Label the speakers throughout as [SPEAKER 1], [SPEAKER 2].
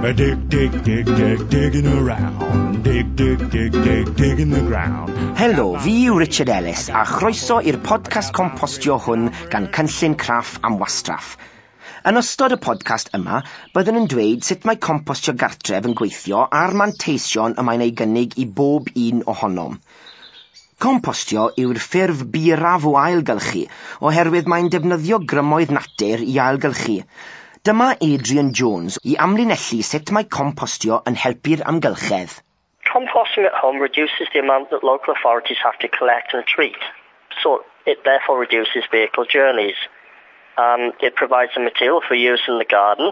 [SPEAKER 1] Dig, dig, dig, dig, digging around. Dig, dig, dig, dig, digging the ground. Helo, fi yw
[SPEAKER 2] Richard Ellis a chroeso i'r podcast compostio hwn gan Cynllun Craff am Wastraff. Yn ystod y podcast yma, byddwn yn dweud sut mae compostio gartref yn gweithio a'r manteision y mae'n ei gynnig i bob un ohonom. Compostio yw'r ffurf byrraf o ailgylchu oherwydd mae'n defnyddio grymoedd natur i ailgylchu. Dyma Adrian Jones i amlinellu sut mae compostio yn helpu'r amgylchedd. Composting at
[SPEAKER 3] home reduces the amount that local authorities have to collect and treat, so it therefore reduces vehicle journeys. Um, it provides the material for use in the garden,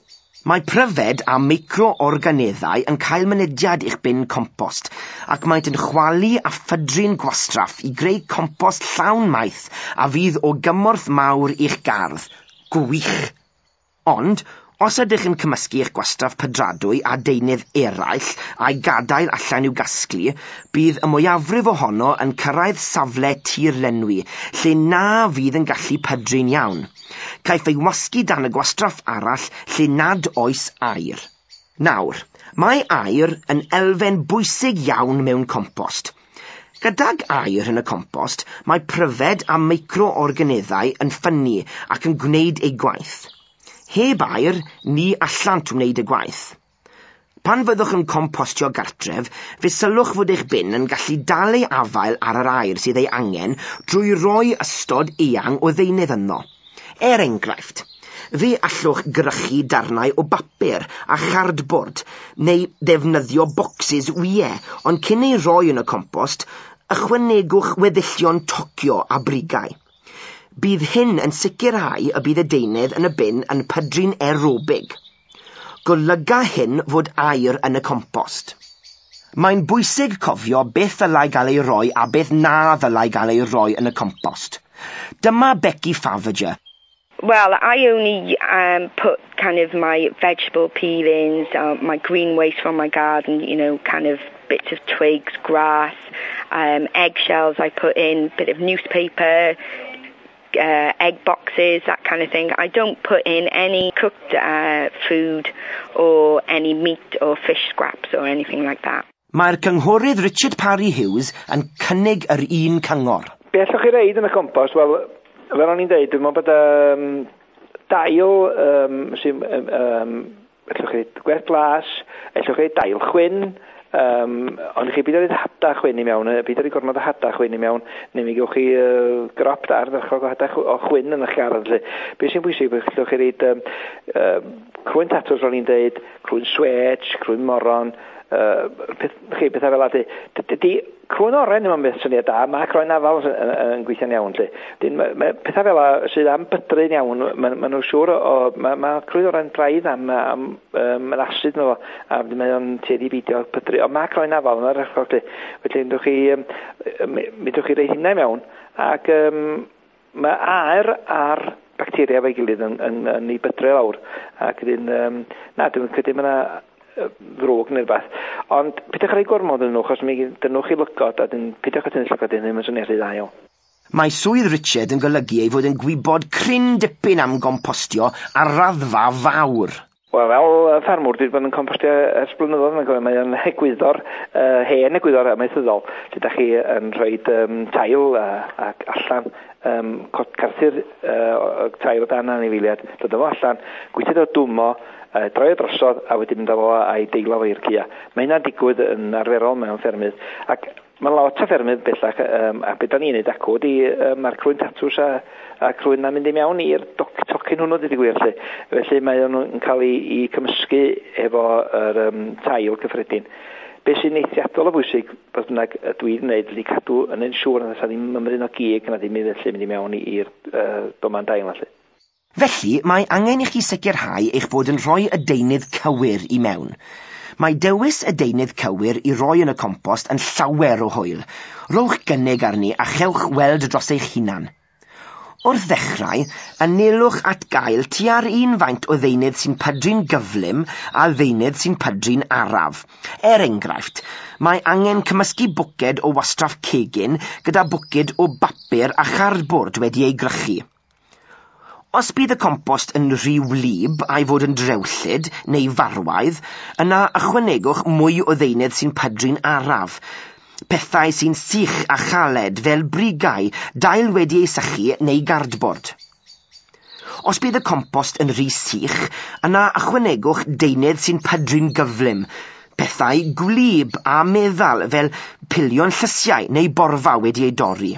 [SPEAKER 2] Mae pryfed a micro-organeddau yn cael mynediad i'ch bin compost ac maent yn chwalu a phydru'n gwastraff i greu compost llawn maeth a fydd o gymorth mawr i'ch gardd. Gwych! Ond, os ydych yn cymysgu eich gwastraff pydradwy â deunydd eraill a'i gadael allan i'w gasglu, bydd y mwyafrif ohono yn cyrraedd safle tir-lenwi lle na fydd yn gallu pydru'n iawn. Caiff ei wasgu dan y gwastraff arall lle nad oes aer. Nawr, mae aer yn elfen bwysig iawn mewn compost. Gydag aer yn y compost, mae pryfed a micro-organeddau yn ffynnu ac yn gwneud eu gwaith. Heb aer, ni allant wneud y gwaith. Pan fyddwch yn compostio gartref, fe sylwch fod eich bin yn gallu dal ei afael ar yr aer sydd ei angen drwy roi ystod eang o ddeunydd ynddo. Er enghraifft, fe allwch gyrchu darnau o bapur a chardbord neu ddefnyddio bocsys wyau, ond cyn eu rhoi yn y compost, ychwanegwch weddillion tocio a brigau. Bydd hyn yn sicrhau y bydd y deunydd yn y bin yn pydru'n aerobig. Golyga hyn fod aer yn y compost. Mae'n bwysig cofio beth ddylai gael ei roi a beth na ddylai gael ei roi yn y compost. Dyma Becky Faverger. Well,
[SPEAKER 4] I only um, put kind of my vegetable peelings, uh, my green waste from my garden, you know, kind of bits of twigs, grass, um, eggshells I put in, bit of newspaper, uh, egg boxes, that kind of thing. I don't put in any cooked uh, food or any meat or fish scraps or anything like that. Mae'r cynghorydd
[SPEAKER 2] Richard Parry Hughes yn cynnig yr un cyngor. Be allwch chi reid yn y
[SPEAKER 5] compost? Wel, fel o'n i'n deud, dwi'n meddwl bod um, dail um, sy'n um, Ellwch chi ddeud gwerth glas, ellwch chi ddeud dail chwyn, um, ond chi byd oedd hada chwyn i mewn, byd oedd gormod o hada chwyn i mewn, neu mi gewch chi uh, grop da ardderchog o hada o chwyn yn eich gardd. Be sy'n bwysig, ellwch chi ddeud um, um, crwyn tatws, ro'n i'n deud, crwyn swetch, crwyn moron, uh, peth, chi, pethau fel ydy. Crwn oren ddim yn beth syniad da, mae croen afal yn, yn, yn gweithio'n iawn. Lle. Dyn, mae, mae pethau fel yna sydd am bydru'n iawn, mae, mae nhw'n siŵr, o, mae, mae crwn oren braidd am, am um, yn asid nhw, a mae o'n tueddu i beidio pydru. Ond mae croen afal yn yr echol, lle. Felly, mi ddwch chi, um, mi ddwch chi rei hynna mewn, ac um, Mae aer a'r bacteria efo'i gilydd yn, yn, yn ei bydre lawr. Ac ydyn, um, na, dwi'n credu mae yna ddrwg neu rhywbeth. Ond pidwch ar ei gormod yn nhw, chos mi dynwch i lygod a dyn pidwch at yn llygod dyn ddim yn swnio rhy dda iawn. Mae swydd
[SPEAKER 2] Richard yn golygu ei fod yn gwybod cryn dipyn am gompostio ar raddfa fawr. Wel fel
[SPEAKER 5] yy ffermwr dwi 'di bod yn compostio ers blynyddoedd mae'n cofio mae o'n egwyddor yy hen egwyddor amaethyddol lle 'dach chi yn rhoid yym tail a ac allan yym co- carthu'r yy o- yy tail o dan anifeiliad dod â fo allan gweithio ddo dwmo yy droi o drosodd a wedyn mynd â fo a'i deilo fo i'r caea. Mae hynna'n digwydd yn arferol mewn ffermydd ac Mae lot o ffermydd bellach um, a beth da ni'n neud acw ydy um, mae'r crwyn tatws a, a crwyn na mynd i mewn i'r tocyn hwnnw dydy gwir lle. Felly mae nhw'n cael ei, ei cymysgu efo yr um, tail cyffredin. Be sy'n eithriadol o bwysig, beth bynnag y dwi'n gwneud, ydy cadw yn ein siŵr nad ydy ni'n ymryn o gig nad dim felly mynd i mewn i'r uh, doman dail felly. Felly, mae
[SPEAKER 2] angen i chi sicrhau eich bod yn rhoi y deunydd cywir i mewn. Mae dewis y deunydd cywir i roi yn y compost yn llawer o hwyl. Rhowch gynnig arni a chewch weld dros eich hunan. Wrth ddechrau, anelwch at gael tua'r un faint o ddeunydd sy'n pydru'n gyflym â ddeunydd sy'n pydru'n araf. Er enghraifft, mae angen cymysgu bwced o wastraff cegin gyda bwced o bapur a chardbord wedi ei gwrychu. Os bydd y compost yn rhy wlyb a'i fod yn drewllyd neu farwaidd, yna ychwanegwch mwy o ddeunydd sy'n pydru'n araf. Pethau sy'n sych a chaled fel brigau, dail wedi ei sychu neu gardbord. Os bydd y compost yn rhy sych, yna ychwanegwch deunydd sy'n pydru'n gyflym, pethau gwlyb a meddal fel pilion llysiau neu borfa wedi eu dorri.